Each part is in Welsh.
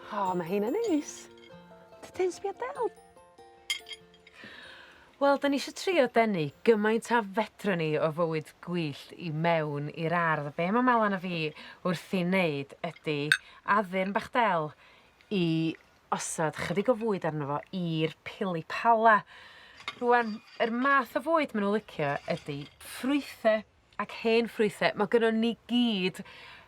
O, oh, mae hyn yn neis. Ti'n sbio del? Wel, da ni eisiau trio denu gymaint a fedra ni o fywyd gwyllt i mewn i'r ardd. Be mae Melan a fi wrth i wneud ydy addurn bach del i osod chydig o fwyd arno fo i'r pili pala. Rwan, yr math o fwyd maen nhw'n licio ydy ffrwythau Ac hen ffrwythe. Ma' gynnon ni gyd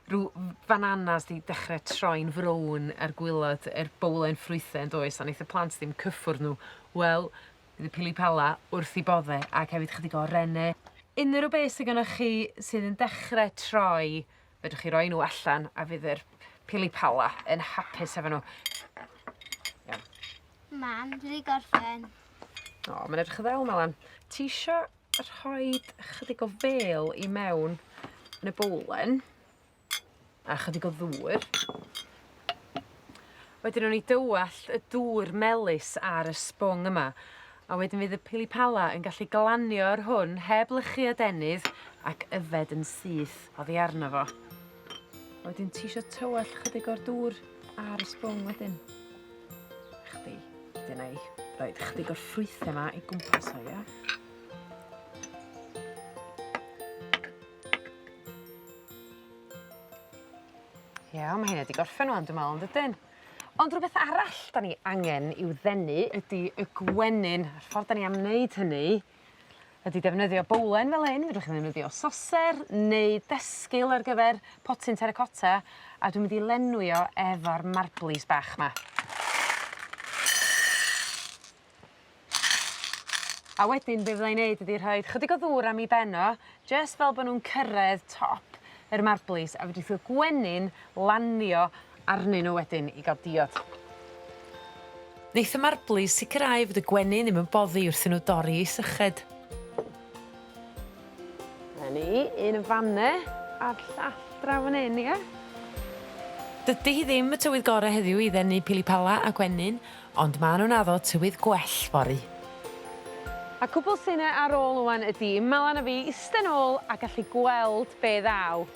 rw f- fananas 'di dechre troi'n frown ar gwilod yr bowlen ffrwythe yndoes a neith y plant ddim cyffwrdd n'w wel bydd y pili pala wrth 'u bodde ac hefyd chydig o rene. Unryw beth sy gynnoch chi sydd yn dechre troi fedrwch chi roi n'w allan a fydd yr pili pala yn hapus hefo n'w. Iawn. Mam, dwi 'di gorffen. O ma'n edrych yn ddel 'ma 'wan. Tisio rhoid ychydig o fêl i mewn yn y bowlen a chydig o ddŵr. Wedyn o'n i dywallt y dŵr melus ar y sbwng yma a wedyn fydd y pili pala yn gallu glanio ar hwn heb lychu adenydd ac yfed yn syth oddi arno fo. A wedyn ti isio tywallt chydig o'r dŵr ar y sbwng wedyn. Chdi. Wedyn ei roi chydig o'r ffrwythau yma i gwmpas o, ia? Ia, mae hyn wedi gorffen ŵan dwi'n meddwl, yn dydyn? Ond rhywbeth arall 'dan ni angen i'w ddenu ydi y gwenyn a'r ffordd 'dan ni am wneud hynny ydi defnyddio bowlen fel hyn fedrwch chi ddefnyddio soser neu desgul ar gyfer potyn terecotta a dwi mynd i lenwi o efo'r marblis bach 'ma. A wedyn be' fydda i'n neud ydi rhoid chydig o ddŵr am 'i ben o jyst fel bo' nw'n cyrredd top yr marblis a fedrith y gwenyn lanio arnyn n'w wedyn i ga'l diod. Neith y marblu sicirau fod y gwenyn ddim yn boddi wrth i n'w dorri i syched. 'Na ni, un yn fan 'ne a'r llall draw fan 'yn ie? Dydi hi ddim y tywydd gore heddiw i ddenu pili pala a gwenyn ond ma' nw'n addo tywydd gwell fory. A cwbwl sy 'ne ar ôl ŵan ydi ma' lan a fi iste nôl a gallu gweld be' ddaw.